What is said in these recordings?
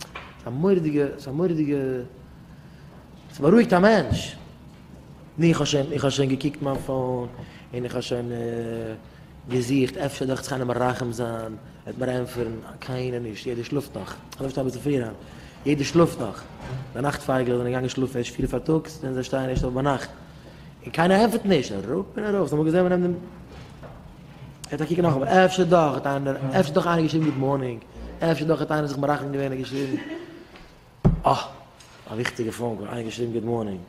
ס'איז א מורא'דיגע, ס'איז א מורא'דיגע, ס'בארואיגט א מענטש. נו איך האב שוין, איך האב שוין געקוקט מיין פאון, און איך האב שוין געזוכט, אפשר דאכט זיך איינער מרחם זיין, וועט מיר ענטפערן, קיינער נישט, יעדער שלאפט נאך. איך האב אביסל פריער אהיים. יעדער שלאפט נאך. די נאכט פייגלעך זענען געגאנגען שלאפן ערשט פיר פארטאגס, און זיי שטייען ערשט אויף ביינאכט. און קיינער ענטפערט נישט. אראפ און ארויף. זיי האבן אמאל געזען מ'נעמט דעם. ער האט א קוק נאך אבער אפשר דאך האט איינער אפשר דאך איינער געשריבן גוט מארנינג אפשר דאך האט איינער זיך מרחם געווען און געשריבן אה א וויכטיגע פאון קאל איינער געשריבן גוט מארנינג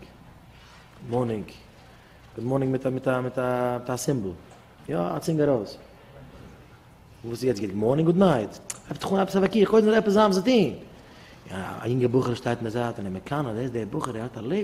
מארנינג גוט מארנינג מיט א מיט א מיט א סימבאל יא א צינג ארויס וואס איז יעצט גוט מארנינג גוט נייט אפשר דאך אפשר וועקי איך קודם עפעס זאמס די א יונגע בחור שטייט אין די זייט און ער מקנא דער איז דער בחור ער האט א לעבן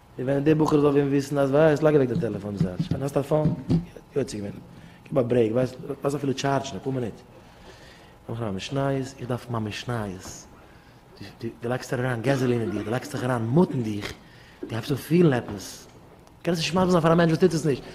און ווען די בחור זאל ווען וויסן אז ווייסט לייג אוועק די טעלעפאן זארטש ווען האסט א פאון יוצא געווען גיב א ברעיק ווייסט לאז אפילו טשארדשן אפאר מינוט נאך א משניות איך דארף מיין משניות די די לייגסט אריין געזעלין אין דיר די לייגסט זיך אריין מוט אין דיך די הייבסט אן פילן עפעס קענסט נישט מסביר זיין פאר א מענטש וואס טוט עס נישט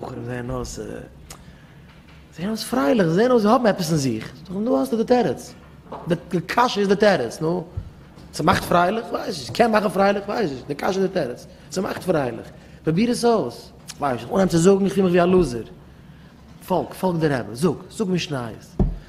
בחורים זעען אויס זיי זעען אויס פרייליך, זיי זעען אויס זיי האבן עפעס אין זיך, זאג איך נו האסטו די תירוץ, די קשיא איז די תירוץ, נו ס'מאכט פרייליך? כ'ווייס נישט, ס'קען מאכן פרייליך? כ'ווייס נישט, די קשיא איז די תירוץ, ס'מאכט פרייליך, פרוביר עס אויס, כ'ווייס נישט, אנהייב צו זאגן איך פיל מיך ווי א לוזער, פאלג, פאלג די רבי, זאג, זאג משניות,